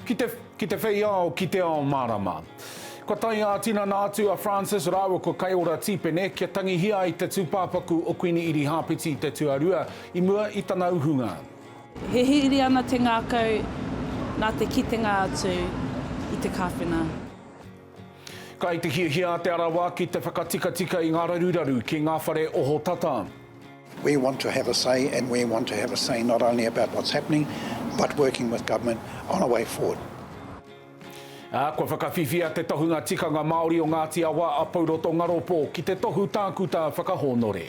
Ki te, ki te whei ao, ki te ao mārama. Kua tae ā-tinana atu a Francis rāua ko Kaiora Tīpene kia tangihia ai te tūpāpaku o Kuini Irihāpeti i te tuarua i mua i tana uhunga. Hihiri ana te ngākau nā te kitenga atu i te kāwhena. Kai te hiahia a Te Arawa ki te whakatikatika i ngā raruraru ki ngā whare ohotata. We want to have a say and we want to have a say not only about what's happening but working with government on a way forward. Ā, kua whakawhiwhia te tohunga tikanga Māori o Ngāti Awa a Pouroto Ngaropo ki te tohu tākuta whakahōnore.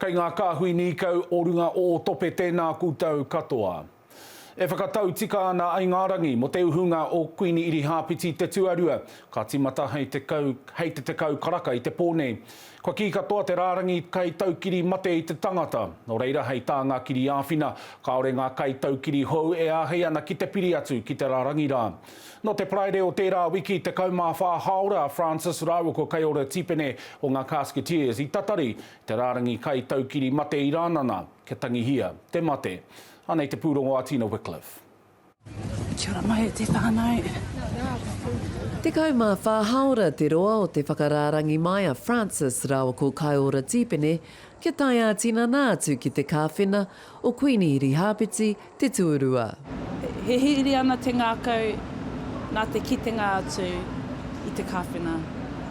Kei ngā kāhui nīkau o runga ōtope tēnā koutou katoa. E whakatau tika ana ai ngā rangi mō te uhunga o Kuini Irihāpeti te tuarua, ka tīmata hei te kau, hei te tekau karaka i te pō nei. Kua kī katoa te rārangi kai taukiri mate i te tangata, nō reira hei tā ngā kiriāwhina, kāore ngā kai taukiri hou e āhei ana ki te piri atu ki te rārangi rā. Nō te Paraire o tērā wiki 14 hāora a Francis rāua ko Kaiora Tipene o ngā Casketeers i tatari te rārangi kai taukiri mate i Rānana kia tangihia te mate. Anei te pūrongo a Tina Wickliffe. Kia ora mai e te whanau. Tekau mā whā hāora te roa o te whakarārangi mai a Francis rāua ko Kaiora Tipene kia tae ā-tinana atu ki te kāwhena o Kuini Hirihāpeti te tuarua. Hihiri ana te ngākau nā te kitenga atu i te kāwhena,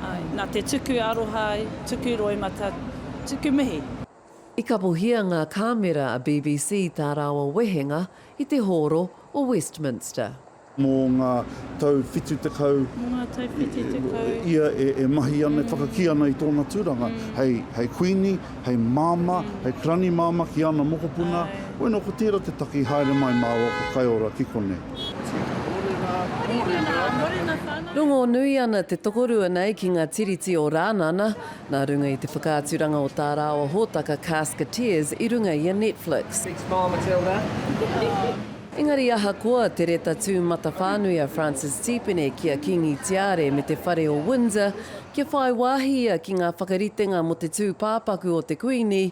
āe, nā te tuku aroha, tuku roimata, tuku mihi. I kapohia ngā kāmera a BBC tā rāua wehenga i te hōro o Westminster. Mō ngā tau whitu tekau ia e mahi ana, e whakakī ana i tōna tūranga hei Kuini, hei Māmā, hei Karani Māmā ki ana mokopuna, bueno, ko tērā te taki haere mai māua ko Kaiora ki konei. Rongonui ana te tokorua nei ki ngā Tiriti o Rānana, nā runga i te whakaaturanga o tā rāua hōtaka Casketeers i runga i a Netflix. Engari ahakoa te reta tūmatawhānui a Francis Tipene ki a Kīngi Tiare me te Whare o Windsor kia whai wāhi ia ki ngā whakaritenga mō te tūpāpaku o te Kuini,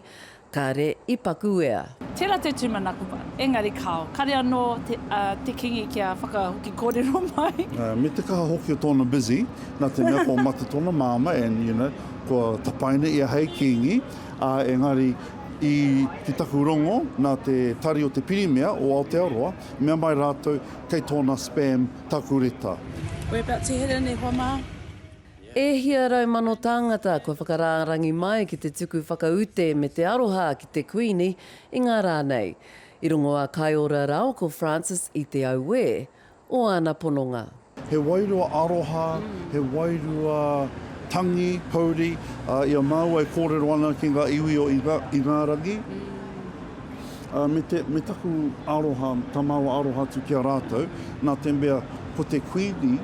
kāre i pakuwea. Tērā te tūmanako wā, engari kāo, kāre anō te Kīngi kia whakahoki kōrero mai. Me te kaha hoki o tōna busy, nā te mea kua mate tōna māmā and, you know, kua tapaina ia hei Kīngi, ā, engari, I te taku rongo nā te Tari o te Pirimia o Aotearoa, mea mai rātou kei tōna spam taku reta. We're about to head in e hoa mā. E hia rau mano tāngata kua whakarārangi mai ki te tuku whakaute me te aroha ki te Kuini i ngā rā nei. I rongo a Kaiora Rao ko Francis i te auē, o āna pononga. He wairua aroha, he wairua tangi, pouri, ā, i a māua e kōrero ana ki ngā iwi o Ingārangi, ā, me te, me taku aroha, tā māua aroha atu ki a rātou, nā te mea, ko te Kuini,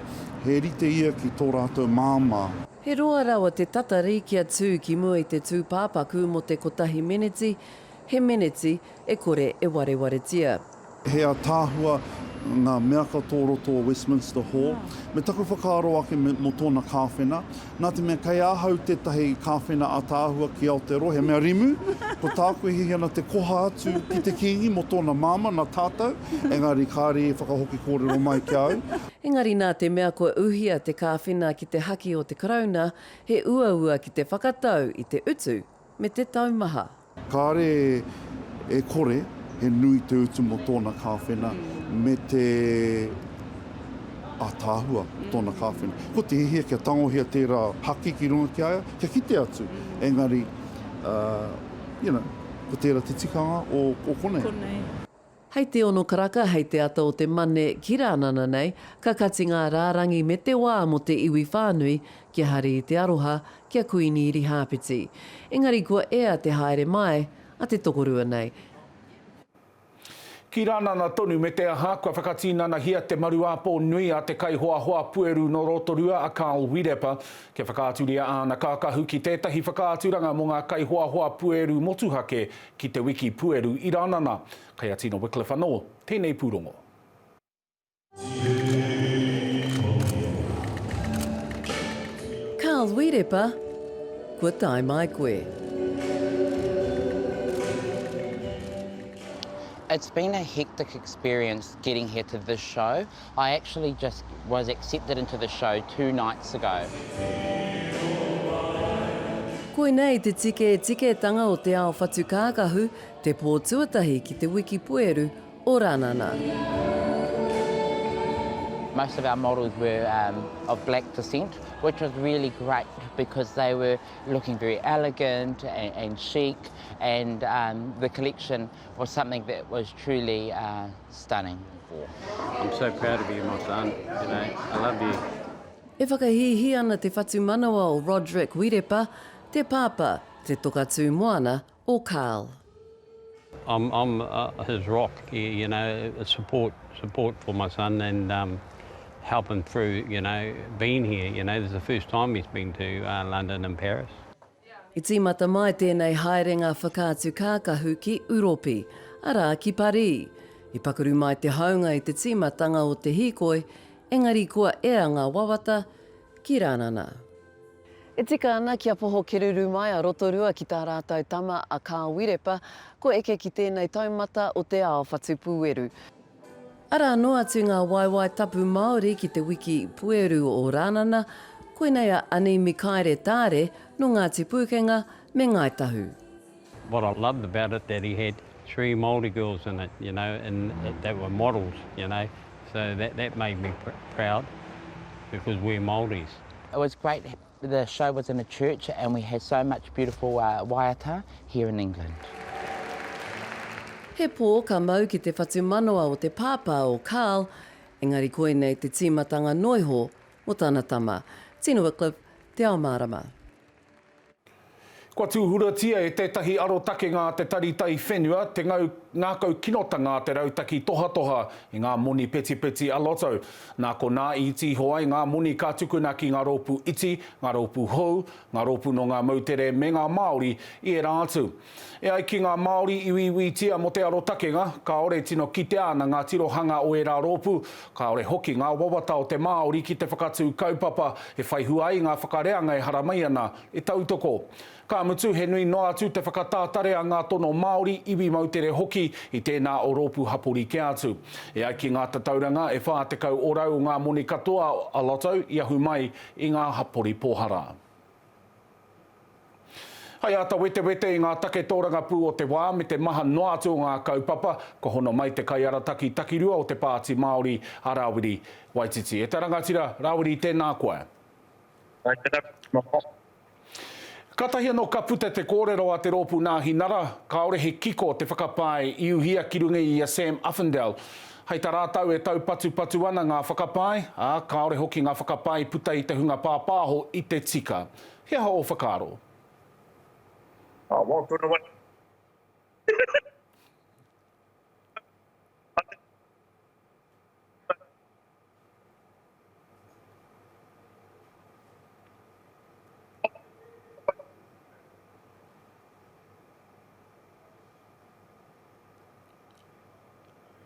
he rite ia ki tō rātou māmā. He roa rawa te tatari kia tū ki mua i te tūpāpaku mō te kotahi meneti, He meneti e kore e warewaretia. He ataahua nga mea ka to roto o Westminster Hall. Me taku whakaaro ake mo tona kawhena, na te mea kei ahau tetahi kawhena ataahua ki Aotearoa, he mea rimu, ko taku e hihi ana te koha atu ki te kingi mo tona mama na tatou, engari kaare e whakahoki korero mai ki a au. Engari na te mea kua uhia te kawhena ki te haki o te Karauna, he uaua ki te whakatau i te utu me te taumaha. Kāre e kore he nui te utu mō tōna kāwhena me te ātaahua o tōna kāwhena. Ko te hiahia kia tangohia tērā haki ki runga ki a ia, kia kite atu, engari, you know, ko tērā te tikanga o konei. Hei te ono karaka, hei te ata o te mane ki Rānana nei, ka kati ngā rārangi me te wā mō te iwi whānui kia hari i te aroha ki a Kuini Irihāpeti. Engari kua ea te haere māe a te tokorua nei. Ki Rānana tonu me te aha, kua whakatinanahia te maru āpō nui a te kaihoahoa pueru nō Rotorua a Carl Wirepa kia whakaaturia āna kākahu ki tētahi whakaaturanga mō ngā kaihoahoa pueru motuhake Ki te wiki pueru i Ranana. Kei a Tina Wickliffe anō tēnei pūrongo. Carl Wīrepa, kua tae mai koe. It's been a hectic experience getting here to this show. I actually just was accepted into the show two nights ago. Koinei te tiketiketanga o te ao whatu kākahu, te pō tuatahi ki te wiki pueru o Ranana. Most of our models were um, of black descent, which was really great because they were looking very elegant and, and chic, and um, the collection was something that was truly uh, Stunning. I'm so proud of you my son, you know, I love you. E whakahīhī ana te whatumanawa o Roderick Wirepa, te pāpā, te toka tū moana o Carl. I'm, I'm uh, his rock, you know, support, support for my son and um, help him through, you know, being here. You know, this is the first time he's been to uh, London and Paris. I tīmata mai tēnei haerenga whakaatu kākahu ki Uropi, arā ki Parī. I pakuru mai te haunga i te tīmatanga o te hīkoi, engari kua ea ngā wawata ki Rānana. E tika ana ki a Poho Keruru mai a Rotorua ki tā rātou tama a Kāwiripa, kua eke ki tēnei taumata o te ao whatu pūeru. Arā anō atu ngā waewae tapu Māori ki te wiki pueru o Rānana, koinei a Ani Mikaere Taare nō Ngāti Pūkenga me Ngāi Tahu. What I loved about it that he had three Māori girls in it, you know, and that were models, you know, so that that made me proud because we're Māoris. It was great The show was in a church and we have so much beautiful waiata here in England. He pō ka mau ki te whatumanawa o te pāpā o Karl, engari koinei te tīmatanga noiho mō tana tama. Tina Wickliffe, Te Ao Mārama. Kua tūhuratia e tētahi arotakenga a te Tari Taiwhenua te ngau ngākau kinotanga a te rautaki tohatoha i ngā moni petipeti a Lotto. Nā konā i tīho ai ngā moni ka tukuna ki ngā rōpū iti, ngā rōpū hou, ngā rōpū nō ngā moutere me ngā Māori i ērā atu. E ai ki ngā Māori i uiuitia mō te arotakenga, kāore tino kitea ana ngā tirohanga o ērā rōpū, kāore hoki ngā wawata o te Māori ki te whakatū kaupapa e whaihua ai ngā whakareanga e haramai ana I tautoko. Ka mutu, he nui noa atu te whakatātare a ngā tono Māori, iwi moutere hoki, i tēnā o rōpū hapori kē atu. E ai ki ngā tatauranga, e whā tekau orau o ngā moni katoa a Lotto i ahu mai i ngā hapori pōhara. Hai āta wetewete i ngā take tōrangapū o te wā me te maha noa atu o ngā kaupapa, kua hono mai te kaiarataki takirua o te Pāti Māori, a Rawiri Waititi. E te rangatira, Rawiri, tēnā koe. Kātahi anō ka puta te kōrero a te rōpū Nāhi Nara, kāore he kiko te whakapae i uhia ki runga i a Sam Uffindell. Hai tā rātau e taupatupatu ana ngā whakapae, ā, kāore hoki ngā whakapae i puta i te hunga pāpāho i te tika. He aha ō whakaaro?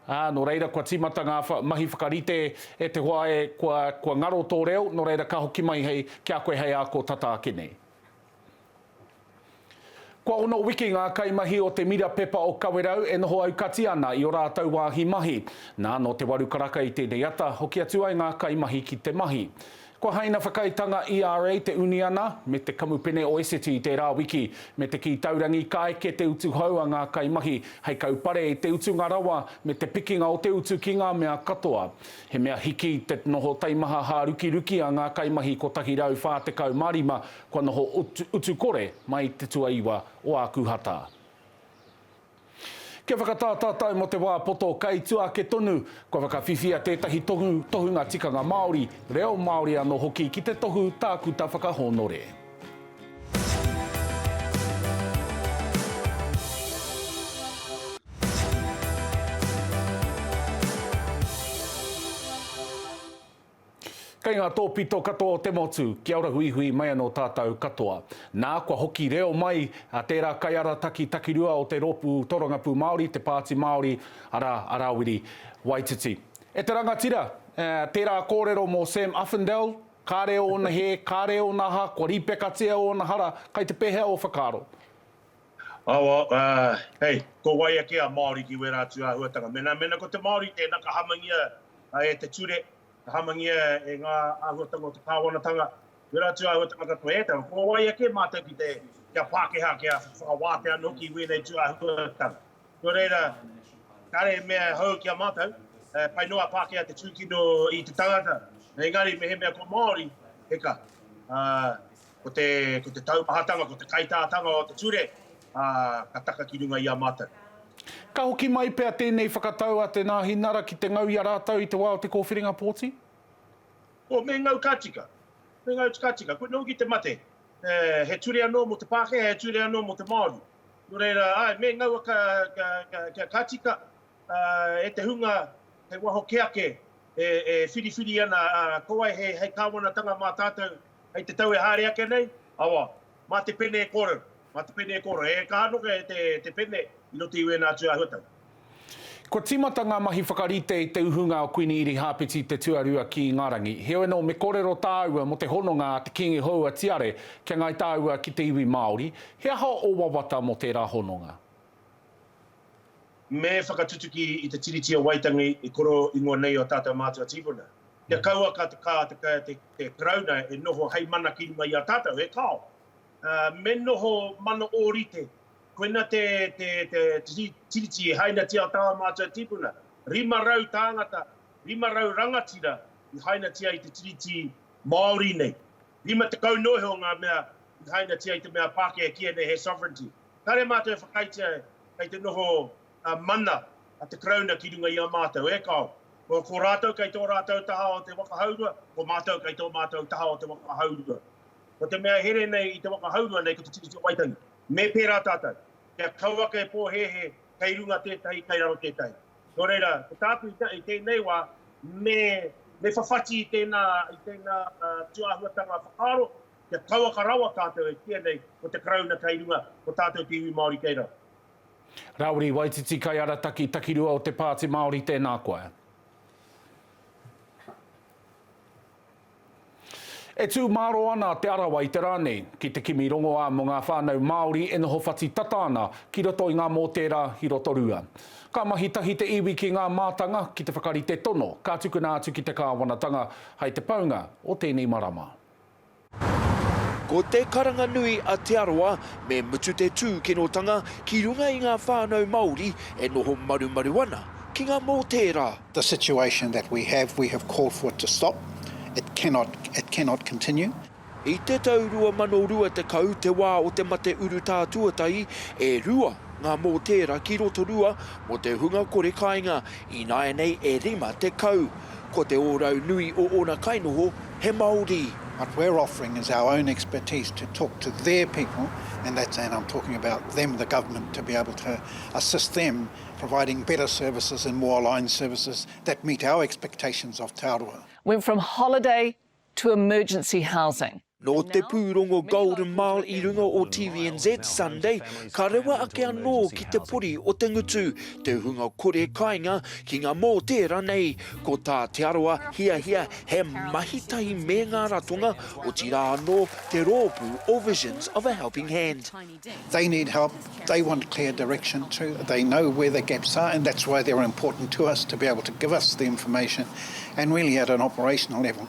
Ā, nō reira kua tīmata ngā mahi whakarite e te hoa e, kua, kua ngaro tō reo, nō reira ka hoki mai hei, ki a koe hei ako tata ake nei. Kua ono wiki ngā kaimahi o te Mira Pepa o Kawerau e noho aukati ana i ō rātou wāhi mahi. Nā, nō te waru karaka i tēnei ata, hoki atu ai ngā kaimahi ki te mahi. Kua haina whakaaetanga ERA te uniana me te kamupene o Esiti tērā wiki, me te kī taurangi ka eke te utu hou a ngā kaimahi hei kaupare i te utunga rawa me te pikinga o te utu ki ngā mea katoa. He mea hiki te noho taimaha hārukiruki a ngā kaimahi 145 Kua noho utu kore mai te tuaiwa o Ākuhata. Kia whakatātātau mō te wā poto kai tua ake tonu, kua whakawhiwhia tētahi tohu tohunga tikanga Māori, reo Māori anō hoki ki te tohu tākuta whakahōnore. Kei ngā tōpito katoa o te motu, kia ora huihui mai anō tātou katoa. Nā, kua hoki reo mai tērā kaiarataki takirua o te rōpū Tōrangapū Māori, Te Pāti Māori, arā, a Rāwiri Waititi. E te rangatira, tērā kōrero mō Sam Uffindell, kāre ōna hē, kāre ōna aha, kua rīpekatia ōna hara, kai te pēhea ō whakaaro? Awa, hei, ko wai ake a Māori ki wērā atu āhuatanga? Mēnā, mēnā ko te Māori tēnā ka hamangia e te ture, ka hamangia e ngā āhuatanga o te kāwanatanga, wērā atu āhuatanga katoa e tau, ko wai ake mātou ki te, kia Pākehā, kia whakawātea anō hoki i wēnei tū āhuatanga. Nō reira, kāre mea hou ki a mātou, pai noa Pākehā te tūkino i te tangata, engari mehemea ko Māori, he kaha. ko te, ko te taumahatanga, ko te kaitātanga o te ture, ā, ka taka ki runga i a mātou. Ka hoki mai pea tēnei whakatau a Te Nāhi Nara ki te ngau i a rātou i te wā o te kōwhiringa pōti? Oh, me ngau ka tika. Me ngau ka tika. Koinei hoki te mate. Eh, he ture anō mō te Pākehā, he ture anō mō te Māori. Nō reira, āe, me ngaua ka, ka, ka, ka, ka tika, ā, e te hunga hei waho kē ake e, e whiriwhiri ana, ā, ko wai hei, hei kāwanatanga mā tātou, Hei te tau e haere ake nei, awa, mā te pene e kōrero, mā te pene e kōrero. E kaha noke te pene i roto i wēnā atu āhuatanga. Kua tīmata ngā mahi whakarite i te uhunga o Kuini Irihāpeti Te Tuarua ki Ingarangi. Heoi anō, me kōrero tāua mō te hononga a te Kīngi hou a Tiare kia ngai tāua ki te iwi Māori. He aha ō wawata mō tērā hononga? Me whakatutuki i te Tiriti o Waitangi i koro ingoa nei o tātou mātua tīpuna. Kia kaua ka te kā te ka te te Karauna e noho hei mana ki runga i a tātou, e kao! Me noho mana ōrite, koina te te te te Tiriti i hainatia o tāua mātua tīpuna. Rima rau tāngata, rima rau rangatira i hainatia i te Tiriti Māori nei. Rima tekau noa iho ngā mea i hainatia i te mea Pākehā kīia nei he sovereignty. Kāre mātou e whakaaetia kei te noho mana a te Karauna ki runga i a mātou, e kāo. Ko rātou kei tō rātou taha o te waka haurua, ko mātou kei tō mātou taha o te waka haurua. Ko te mea here nei i te waka haurua nei ko Te Tiriti o Waitangi. Me pērā tātou, kia kau ake e pōhēhē, kei runga tētahi, kei raro tētahi. Nō reira, ko tāku i tēnei wā, me whawhati i tēnā, i tēnā tū āhuatanga whakaaro, kia kauaka rawa tātou e kīia nei ko te Karauna kei runga, ko tātou te iwi Māori kei raro. Rauri Waititi Kaiarataki takirua o te Pāti Māori Tēnā koe. E tū māro ana Te Arawa i te rā nei ki te kimi rongoā mō ngā whānau Māori e noho whati tata ana ki roto i ngā mōtērā ki Rotorua. Ka mahi tahi te iwi ki ngā mātanga ki te whakarite tono ka tukuna atu ki te kāwanatanga hai te paunga o tēnei marama. Ko te karanga nui a Te Arawa, me mutu te tūkinotanga ki runga i ngā whānau Māori e noho marumaru ana ki ngā mōtēra. The situation that we have, we have called for it to stop, it cannot, it cannot continue. I te tau 2020 te wā o te mate urutā tuatahi, e rua ngā mōtēra ki Rotorua mō te hunga kore kāinga, ināianei e 50. Ko te ōrau nui o ōna kainoho, He Māori. What we're offering is our own expertise to talk to their people, and that's, and I'm talking about them, the government, to be able to assist them providing better services and more aligned services that meet our expectations of Te Arawa. Went from holiday to emergency housing. Nō te pūrongo Golden Mile i runga o TVNZ Sunday, ka rewa ake anō ki te pori o te ngutu te hunga kore kainga ki ngā mōtē ranei, Ko tā Te Arawa hiahia he mahi tahi me ngā ratonga, otirā anō te rōpū o Visions of a Helping Hand. They need help, they want clear direction too, they know where the gaps are and that's why they're important to us to be able to give us the information and really at an operational level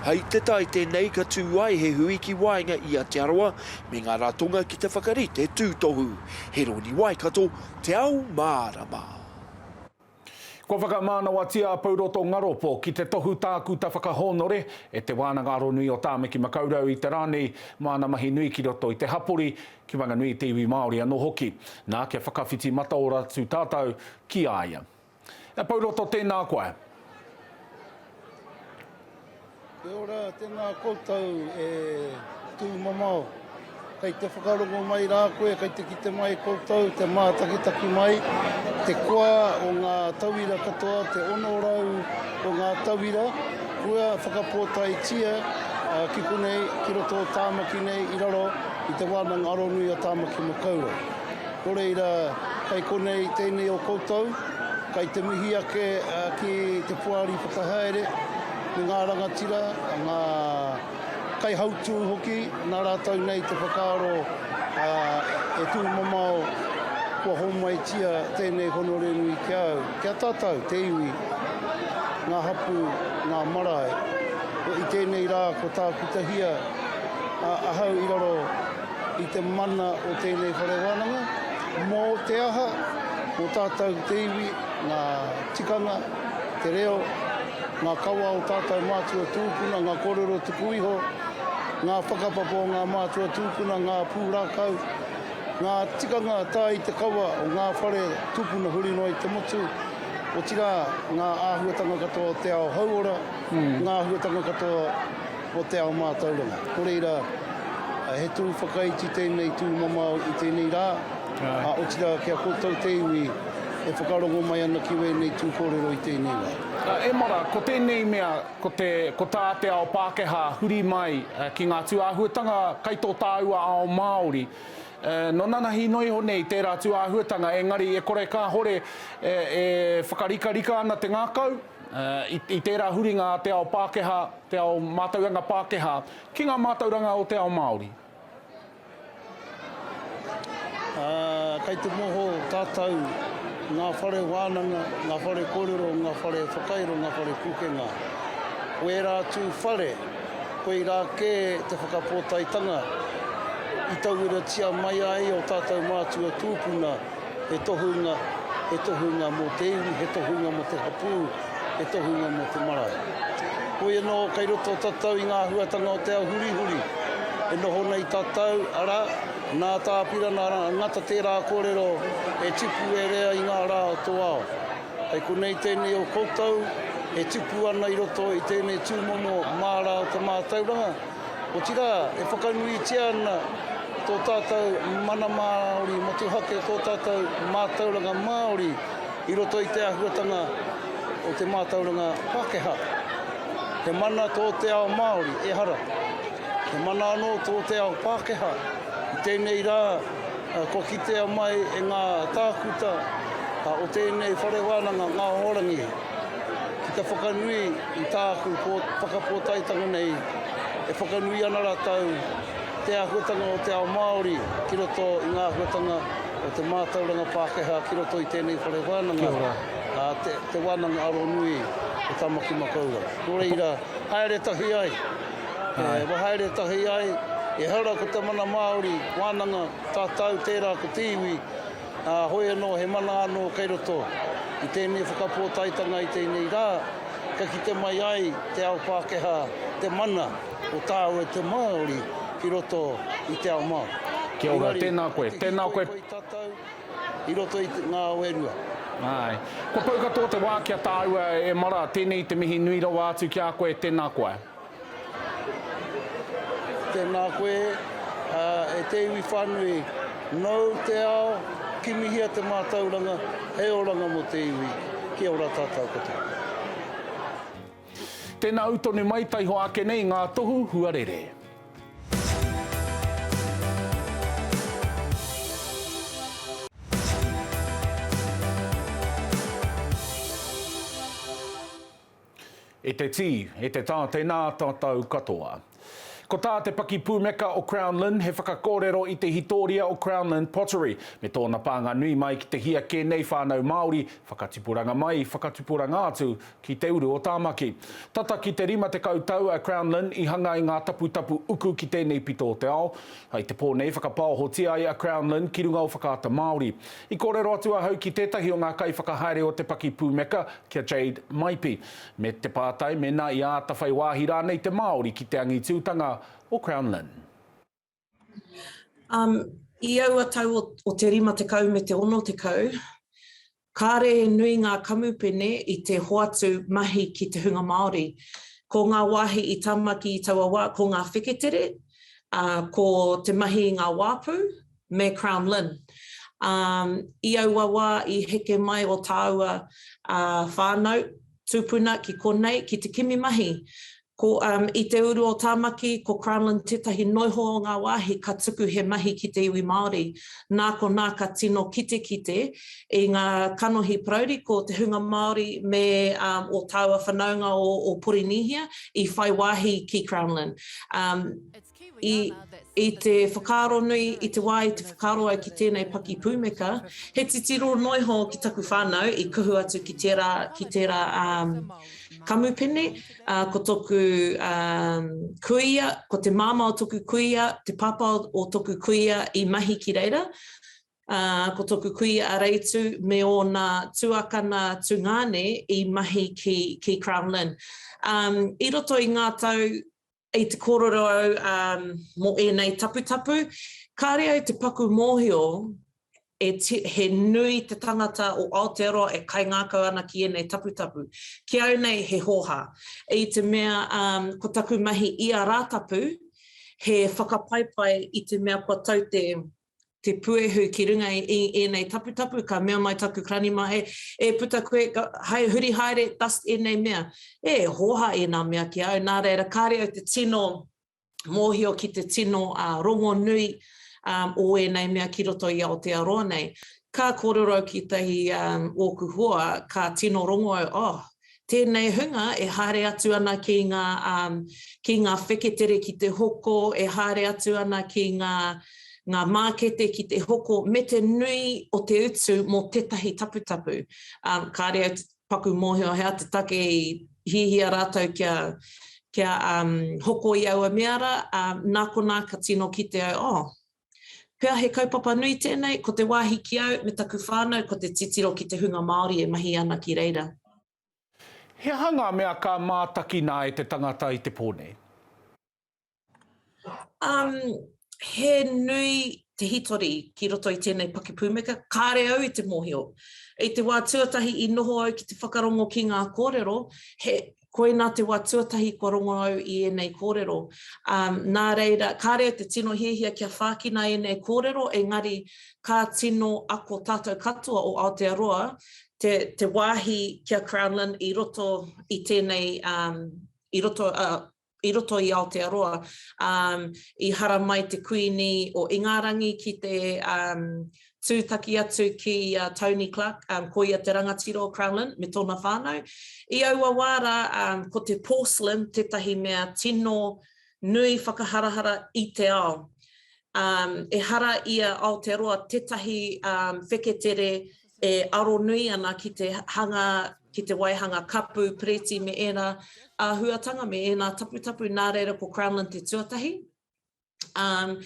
Hei te tae tēnei ka tū ai he hui ki waenga i a Te Arawa me ngā ratonga ki te whakarite tūtohu. He rōni Waikato, Te Ao Mārama. Kua whakamānawatia a Pouroto Ngaropo ki te tohu tākuta whakahōnore e Te Wānanga Aronui o Tāmaki Makaurau i te rā nei mā ana mahi nui ki roto i te hapori, ki Wanganui te iwi Māori anō hoki. Nā, kia whakawhiti mataora atu tātou ki a ia. He pou roto tēnā koe. Kia ora, tēnā koutou e tūmamao. Kei te whakarongo mai rā koe, kei te kite mai koutou, te mātakitaki mai, te koa o ngā tauira katoa, te 600 o ngā tauira, kua whakapōtaetia ki konei, ki roto o Tāmaki nei, i raro i te Wānanga Aronui o Tāmaki Makaurau. Nō reira, kei konei tēnei o koutou, kei te mihi ake ki te Poari Whakahaere me ngā rangatira, ngā kaihautū hoki, nā rātou nei te whakaaro e tūmamao kua hōmaitia tēnei honore nui ki a au, ki a tātou, te iwi, ngā hapū, ngā marae. I tēnei rā kua tākutahia ahau i raro. i te mana o tēnei whare wānanga, mō te aha, mō tātou te iwi, ngā tikanga, te reo, ngā kawa o tātou mātua tūpuna, ngā kōrero tuku iho, ngā whakapapa o ngā mātua tūpuna, ngā pūrākau, ngā tikanga tae i te kawa o ngā whare tūpuna huri noa i te motu, otirā ngā āhuatanga katoa o te ao hauora, ngā āhuatanga katoa o te ao mātauranga. Ko reira, he tū whakaiti tēnei tū mamao i tēnei rā, ā, otirā kia koutou te iwi e whakarongo mai ana ki wēnei tū kōrero i tēnei rā. Emara, ko tēnei mea, ko te, ko tā te ao Pākehā huri mai ki ngā tūāhuatanga kai tō tāua ao Māori, nō nanahi noa iho nei tērā tūāhuatanga, engari e kore kāhore e whakarikarika ana te ngākau, i tērā huringa a te ao Pākehā, te ao mātauranga Pākehā, ki ngā mātauranga o te ao Māori. Ā, kei te noho tātou, ngā whare wānanga, ngā whare kōrero, ngā whare whakairo, ngā whare pūkenga. Ko ērā atu whare, koirā kē te whakapōtaetanga i tauiratia mai ai ō tātou mātua tūpuna, he tohunga, he tohunga mō te iwi, he tohunga mō te hapū, he tohunga mō te marae. Hoi anō, kei roto tatau i ngā āhuatanga o te ao hurihuri e noho nei tatau, arā, nā Tā Apirana Ngata tērā kōrero e tipu e rea i ngā rā o tō ao. Hei konei tēnei o koutou e tipu ana i roto i tēnei tūmomo mārā o te mātauranga, Otirā, e whakanuitia ana tō tātou mana Māori motuhake, tō tātou mātauranga Māori i roto i te āhuatanga o te mātauranga Pākehā. He mana tō te ao Māori, ehara, he mana anō tō te ao Pākehā. I tēnei rā, kua kitea mai e ngā tākuta o tēnei whare wānanga, ngā Hoarangi, ki te whakanui i tāku whakapōtaetanga nei, e whakanui ana rātou te āhuatanga o te ao Māori ki roto i ngā āhuatanga o te mātauranga Pākehā ki roto i tēnei whare wānanga, ā, te wānanga aro nui o Tāmaki Makaurau. Nō reira, haere tahi ai, e wahaere tahi ai, ehara ko te mana Māori wānanga, tātou tērā ko te iwi, Ā, hoi anō, he mana anō kei roto i tēnei whakapōtaetanga i tēnei rā, kia kite mai ai te ao Pākehā te mana o tāu e te Māori ki roto i te ao Māori. Kia ora, tēnā koe. Tēnā koe. Engari, ko te hiko i whai tatau i roto i ngā ao e rua. Āe. Kua pau katoa te wā ki a tāua e Mara, tēnei te mihi nui rawa atu ki a koe, tēnā koe. Tēnā koe e te iwi whānui, nōu te ao, kimihia te mātauranga, he oranga mō te iwi. Kia ora tātou katoa. Tēnā au tonu mai taiho ake nei ngā tohu huarere. E te tī, e te tā tēnā tātou katoa. Ko tā te pakipūmeka o Crown Lynn he whakakōrero i te hitōria o Crown Lynn Pottery me tōna pānga nui mai ki te hia kē nei whānau Māori, whakatipuranga mai, whakatipuranga atu ki te uru o Tāmaki. Tata ki te rima tekau tau a Crown Lynn i hanga i ngā taputapu uku ki tēnei pito o te ao, I te pō nei, whakapaohotia ai a Crownlin ki runga o Whakaata Māori. I kōrero atu ahau ki tētahi o ngā kaiwhakahaere o te paki pūmeka, ki a Jade Maipi, me te pātai mēnā i āta whai wāhi rānei te Māori ki te angitūtanga o Crownlin. Um, i aua tau o, o te rima tekau me te ono tekau, Kāre he nui ngā kamupene i te hoatu mahi ki te hunga Māori. Ko ngā wāhi i tāmaki i taua wā, ko ngā wheketere, ā, ko te mahi i ngā wāpu, me Crown Lynn. Ā, i aua wā i heke mai ō tāua whānau, tūpuna ki konei ki te kimi mahi, Ko I te uru o Tāmaki, ko Crownland tētahi noiho o ngā wāhi ka tuku he mahi ki te iwi Māori. Nā konā ka tino kitekite i ngā kanohi parauri ko te hunga Māori me ō tāua whanaunga o Porinīhia i whai wāhi ki Crownland. I te whakaaro nui, i te wā i te whakaaro au ki tēnei paki pūmeka, he titiro noa iho ki taku whānau i kuhu atu ki tērā, ki tērā kamupene, ko tōku kuia, ko te māmā o tōku kuia, te pāpā o tōku kuia i mahi ki reira, ko tōku kuia a Reitu me ōna tuakana tungāne i mahi ki, ki Crown Lynn. I roto i ngā tau I te kōrero au mō ēnei taputapu, kāre au te paku mōhio he nui te tangata o Aotearoa e kaingākau ana ki ēnei taputapu. Ki au nei he hōhā. I te mea ko taku mahi ia Rātapu, he whakapaipai i te mea kua tau te te puehu ki runga i ēnei taputapu, ka mea mai taku ranima, hei, e puta koe, hai huri haere, dust ēnei mea. E hōhā ēnā mea ki a au, nā reira, kāre au te tino mōhio ki te tino rongonui o ēnei mea ki roto i Aotearoa nei. Ka kōrero au ki tētahi ōku hoa, ka tino rongo au, oh, Tēnei hunga e haere atu ana ki ngā, ki ngā wheketere ki te hoko, e haere atu ana ki ngā, ngā mākete ki te hoko, me te nui o te utu mō tētahi taputapu. Kāre au te paku mōhio hea te take i hiahia rātou kia, kia hoko i aua mea rā, nā konā ka tino kite au, oh, Pea he kaupapa nui tēnei, ko te wāhi ki au me taku whānau ko te titiro ki te hunga Māori e mahi ana ki reira. He aha ngā mea ka mātakina e te tangata i te pō nei? Um, he nui te hitori ki roto i tēnei pakipūmeka, kāre au i te mōhio. I te wā tuatahi i noho au ki te whakarongo ki ngā kōrero, he. Koina te wa tuatahi kua rongo au i enei korero. Na reira, kare te tino hiahia kia whakina enei korero, engari ka tino ako tatou katoa o Aotearoa te wahi ki a Crownland i roto i tenei, i roto, i roto i Aotearoa, i haramai te Kuini o Ingarangi ki te tūtaki atu ki a Tony Clark, ko ia te rangatira o Crowland me tōna whānau. I aua wā rā, ko te porcelain tētahi mea tino nui whakaharahara i te ao. Ehara i a Aotearoa tētahi wheketere e aro nui ana ki te hanga, ki te waihanga kapu, piriti me ēnā āhuatanga me ēnā taputapu nā reira ko Crownland te tuatahi. Um,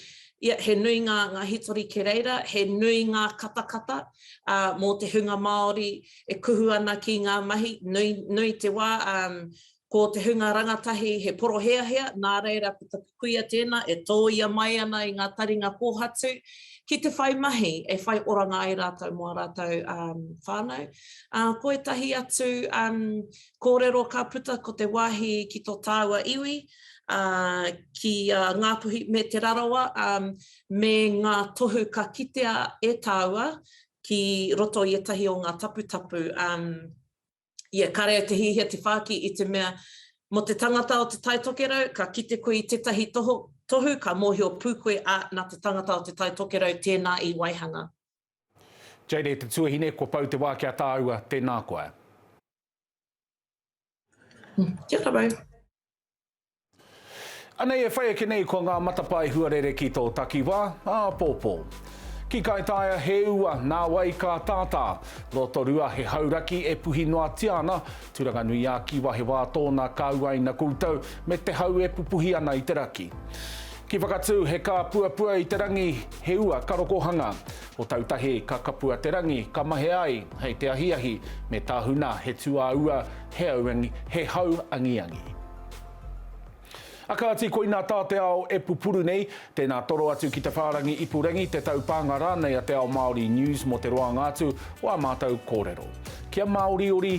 ia, he nui ngā, ngā hitori ki reira, he nui ngā katakata uh, mō te hunga Māori e kuhu ana ki ngā mahi, nui, nui te wā, um, Ko te hunga rangatahi he poroheahea, nā reira ko taku kuia tēnā e tōia mai ana i ngā taringa kōhatu ki te whai mahi e whai oranga ai rātou mō ā rātou whānau. Ā, ko ētahi atu kōrero ka puta ko te wāhi ki tō tāua iwi, ā, ki a Ngāpuhi me Te Rarawa, ā, me ngā tohu ka kitea e tāua ki roto i ētahi o ngā taputapu, ā, Ia kare au te hiahia te whāki i te mea, mō te tangata o Te Tai Tokerau, ka kite koe i tētahi tohu, ka mōhio pū koe, ā, nā te tangata o Te Tai Tokerau tēnā i waihanga. Jade te tuahine, kua pau te wā ki a tāua, tēnā koa. Kia kawe. Anei e whai ake nei ko ngā matapae huarere ki tō takiwā, āpōpō. Ki Kaitaia he ua, nā wai ka tātā. Rotorua he hauraki e puhi noatia ana, Turanganui-ā-Kiwa he wā tōna ka uaina koutou me te hau e pupuhi ana i te raki. Ki Whakatū he kāpuapua i te rangi he ua ka rokohanga. Ko Tautahi, ka kapua te rangi, ka mahea ai, hei te ahiahi, me Tahuna, he tuāua, he auangi, he hau angiangi. A kāti, koinā tā te ao e pupuru nei, tēnā toro atu ki te whārangi ipurangi, te taupānga rānei a Te Ao Māori News mō te roanga atu o ā mātou kōrero. Kia māoriori.